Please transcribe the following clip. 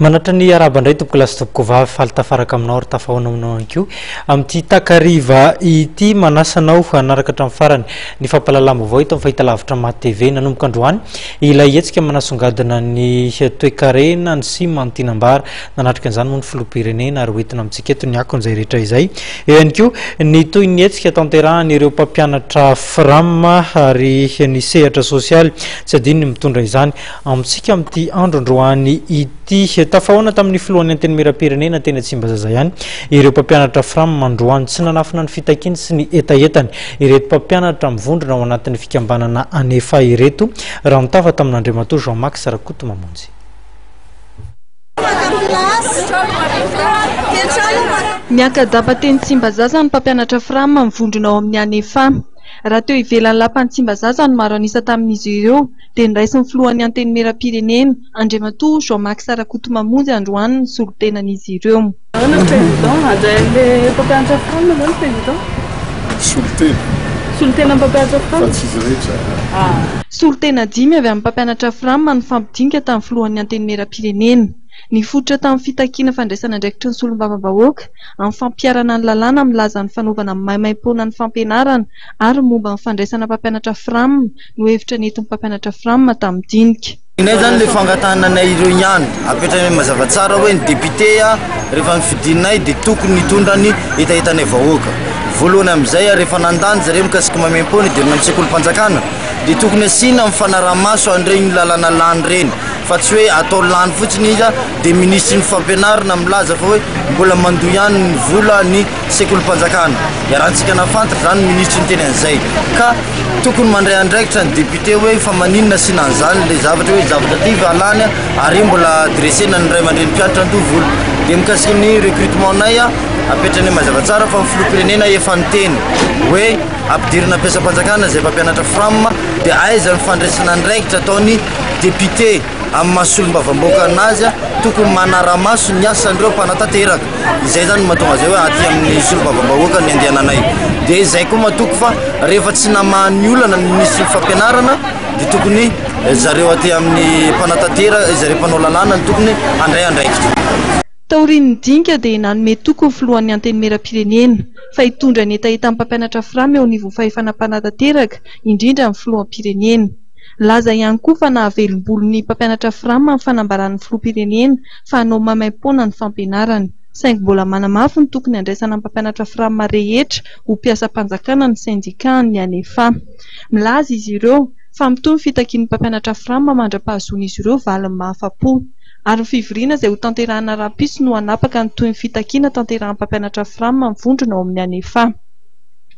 Manatra ny araba indray tompoko lasy tompoko vavy faly tafaraka aminao ary tafahoana aminao ihany koa amin'ity takariva ity manasanao hanaraka hatramin'ny farany ny fampahalalam-baovao eto amin'ny fahitalavitra Maty TV nanomboka androany Ilay hetsika manasongadina ny toekarena, ny sima, ny tinam-bara. Nanatrika an'izany moa ny filoham-pirenena ary hoentina amintsika eto ny akony izay rehetra izay. Eo ihany koa ny toy ny hetsika tanterahan'ireo mpampianatra Fram ary ny sehatra sosialy tsy adino ny mitondra izany amintsika amin'ity andro androany ity. Tafahaona tamin'ny filohan'ny Antenimierampirenena teny Tsimbazaza ihany ireo mpampianatra Fram androany. Tsy nanafina ny fitakiany sy ny hetahetany Ireto mpampianatra mivondrona ao anatin'ny fikambanana Anefa ireto, raha nitafa tamin'Andriamatoa Jean Max Rakotomamonjy. Miaka-dapa teny Tsimbazaza ny mpampianatra Fram mivondrona ao amin'ny Anefa. Raha teo ivelan'ny lapan'i Tsimbazaza no maro an'isa tamin'izy ireo dia niraisin'ny filohan'ny Antenimierampirenena, Andriamatoa Jean Max Rakotomamonjy androany ny solontenan'izy ireo. Ahoana président, hajain'le mpampianatra franc ve ny président? Solontena. Solontena mpampianatra franc? Fa tsy izy rehetra an! Solontena dimy avy amin'ny mpampianatra fram no fampidinika tamin'ny filohan'ny Antenimierampirenena. Nifototra tamin'ny fitakiana fandraisana andraikitry ny solombavambahoaka amin'ny fampiharana ny lalàna milaza ny fanaovana maimaimpoana ny fampianarana ary momba ny fandraisana mpampianatra fram no hevitra nentin'ny mpampianatra fram tamin'ny dinika Ny anay zany le fangatahana anay ireo ihany, apetrainay mazava tsara hoe ny député rehefa nofidinay dia tokony nitondra ny hetahetanay vahoaka. Voalohany amin'izay ary efa nandà ny zareo mikasika mamem-po ny hidirana amin'ny sekolim-panjakana dia tokony asiana amin'ny fanaraha-maso an'ireny lalana lany ireny fa tsy hoe atao lany fotsiny izy dia minisitry ny fampianarana milaza fa hoe mbola mandoa ihany ny vola ny sekolim-panjakana iarahantsika nafantatra izany minisitry ny teny an'izay ka tokony mandray andraikitra ny député hoe fa maninona sy nanzany ilay zavatra hoe zavatra ty va lany ary mbola dressena ny ray aman-dreny mpianatra andovola dia mikasika ny recrutement nay a apetrany mazava tsara fa ny filoham-pirenena efa niteny hoe ampidirina mpiasam-panjakana izay mpampianatra fram dia aiza ny fandraisana andraikitra ataony député Amin'ny maha solombavambahoaka anazy, tokony manara-maso ny asan'ireo mpanatanteraka. Izay izany no mahatonga izay hoe aty amin'ny solombavambahoaka ny andehananay. Dia izay koa matoky fa rehefa tsy namaha ny olana ny minisitry ny fampianarana dia tokony zareo aty amin'ny mpanatanteraka, zareo mpanao lalàna no tokony handray andraikitra. Taorian'ny dinika dia nanome toky ho filohan'ny Antenimierampirenena fa hitondra ny hetahetan'ny mpampianatra fram eo anivon'ny fahefana mpanatanteraka, indrindra ny filoham-pirenena. Nilaza ihany koa fa nahavelom-bolo ny mpampianatra Fram amin'ny fanambaran'ny filoham-pirenena fa hanao maimaim-poana ny fampianarana. Saingy mbola manamafy ny tokony handraisana ny mpampianatra Fram rehetra ho mpiasam-panjakana ny sendikàn'ny Anefa. Milaza izy ireo fa mitohy ny fitakian'ny mpampianatra Fram mandra-pahazoan'izy ireo valiny mahafa-po. Ary ny fivoriana izay hotanterahina rahampitso no hanapaka ny tohin'ny fitakiana tanterahin'ny mpampianatra Fram amin'ny vondrona ao amin'ny Anefa.